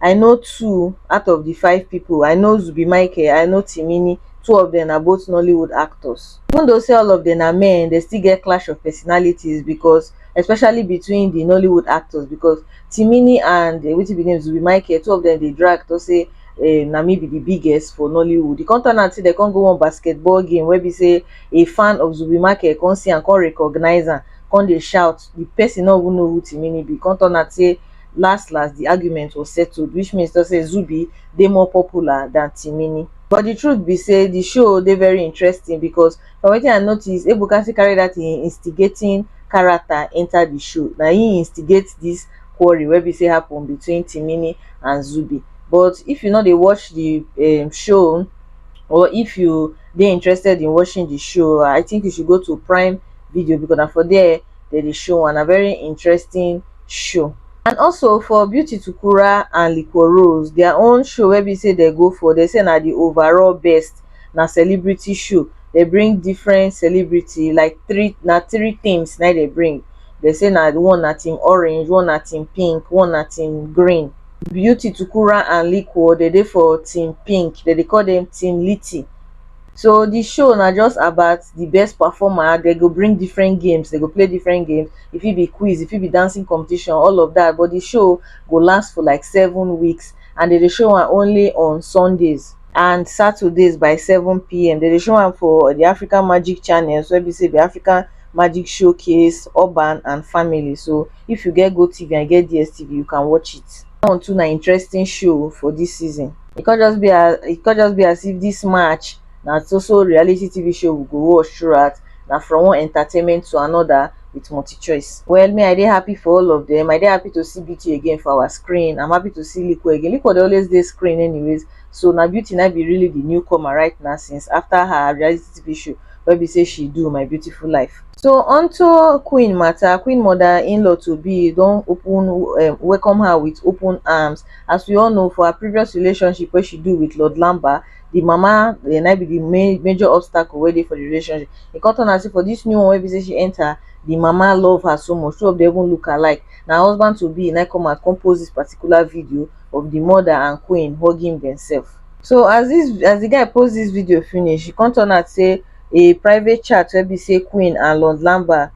I know two out of the five people, I know Zubby Michael, I know Timini, two of them na both Nollywood actors. Even though say all of them na men, they still get clash of personalities because especially between the Nollywood actors because Timini and uh, wetin be name Zubby Michael, two of them dey drag to say uh, na me be the biggest for Nollywood. The come turn out say they come go one basketball game where be say a fan of Zubby Michael come see and come recognize am, come dey shout. The person no even know who Timini be. Come turn out say last last di argument was settled which means to say Zubby dey more popular than Timini. But di truth be say di show dey very interesting because from wetin I notice Ebuka still carry dat im instigating character enter di show na im instigate dis quarrel wey be say happen between Timini and Zubby but if you no dey watch di um show or if you dey interested in watching di show I think you should go to prime video because na for there dem dey show one na very interesting show and also for beauty tukura and liquor rose their own show wey be say they go for they say na the overall best na celebrity show they bring different celebrity like three na three teams na they bring they say na one na team orange one na team pink one na team green beauty tukura and liquor they dey for team pink they dey call them team litty so di show na just about di best performer, dem go bring different games, dem go play different games, e fit be quiz, e fit be dancing competition all of dat but di show go last for like seven weeks and dem dey show am only on Sundays and Saturdays by seven pm, dem dey show am for di African magic channels wey be sey di African magic show case, urban and family so if you get GOTV and you get DSTV you can watch it. Dis one too na interesting show for dis season. e come just be as e come just be as if this match na so so reality TV show we go watch throughout na from one entertainment to another with multi choice. Well me I dey happy for all of them I dey happy to see beauty again for our screen I'm happy to see Liko again Liko dey always dey screen anyways so na beauty na be really the newcomer right now since after her reality TV show wey be say she do my beautiful life. So onto queen matter queen mother in-law to be don open um, welcome her with open arms As we all know for her previous relationship wey she do with Lord Lamba, the mama um na im be the main major obstacle wey dey for the relationship. E come turn am sey for this new one wey be sey she enter, the mama love her so much, two of them even look alike. Na husband to be na im come out come post this particular video of the mother and queen hugging themselves. So as this as the guy post this video finish, e come turn out sey a private chat wey be sey queen and Lord Lamba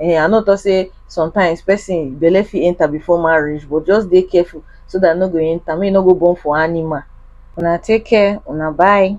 um I no talk say sometimes person belle fit enter before marriage but just dey careful so that e no go enter make e no go born for animal. Una take care una bye.